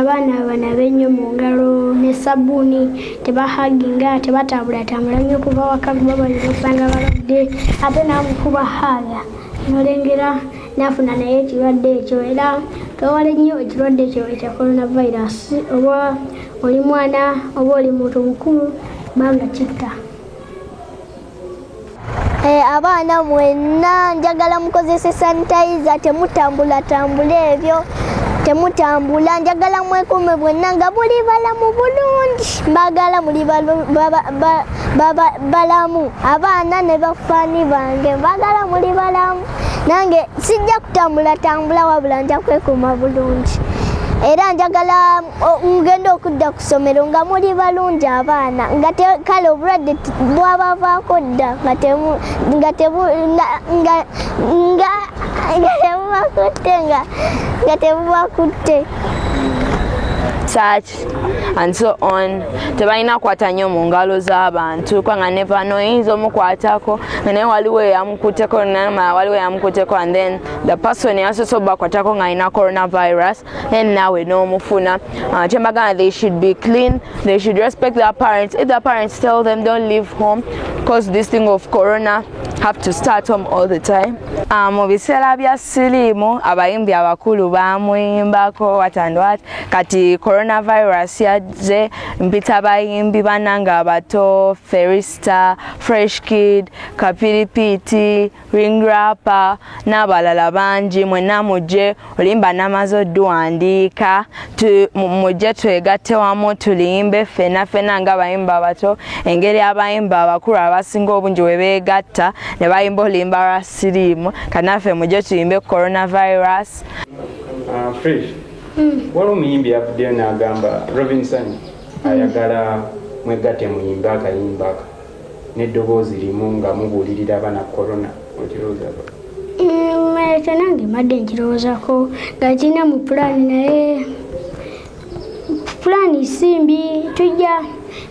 abaana abana benyo mu ngalo ne sabbuuni tebahaginga tebatambulatambula nnyo kuva waka kuba balina osanga balwadde ate namukuba haaga nolengera nafuna naye ekirwadde ekyo era twewale nnyo ekirwadde ekyo ekya coronavirus oba oli mwana oba oli muntu mukulu banga kitta Eh, abaana mwenna njagala mukozese sanitayiza temutambulatambula ebyo temutambula njagala mwekuume bwenna nga buli balamu bulungi mbagala muli balamu abaana ne bafaani bange mbagala muli balamu nange sijja kutambulatambula wabula nja kwekuuma bulungi era njagala mugenda okudda ku ssomero nga muli balungi abaana nga kale obulwadde bwabavaako dda nga tebubakutte nga tebubakutte church and so on tebalina kukwata nnyo mu ngalo z'abantu kubanga nevano oyinza omukwatako nga naye waliwo eyamukuteko namala waliwo eyamukuteko and then the person yasoose obakwatako ng'alina coronavirus and now we know mufuna uh, chemagana they should be clean they should respect their parents if their parents tell them don't leave home because this thing of corona have to start home all the time uh, mu biseera bya siriimu abayimbi abakulu bamuyimbako watandwat kati coronavirus yajje mpita bayimbi bananga abato ferista fresh kid kapiripiti ring rapper n'abalala bangi mwenna mujje olimba namaze oduwandiika mujje twegatte wamu tulimbe ffena ffena nga abayimba abato engeri abayimba abakulu abasinga obungi we beegatta ne bayimba olimba lwa siriimu kanaffe mujje tuyimbe coronavirus ah, hmm. waliwo omuyimbi yavuddeyo n'agamba robinson ayagala mwegatte muyimbe akayimba ako n'eddoboozi limu nga mubuulirira abana corona okirowoozako mm, ekyo nange mbadde nkirowoozako nga kirina mu pulaani naye pulaani simbi tujja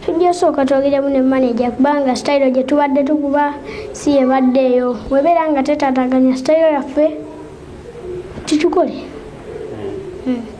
tujja sooka twogeremu ne maneja kubanga sitayiro gye tubadde tukuba si yebadde eyo webeera nga tetataganya sitayiro yaffe tukikole hmm. hmm.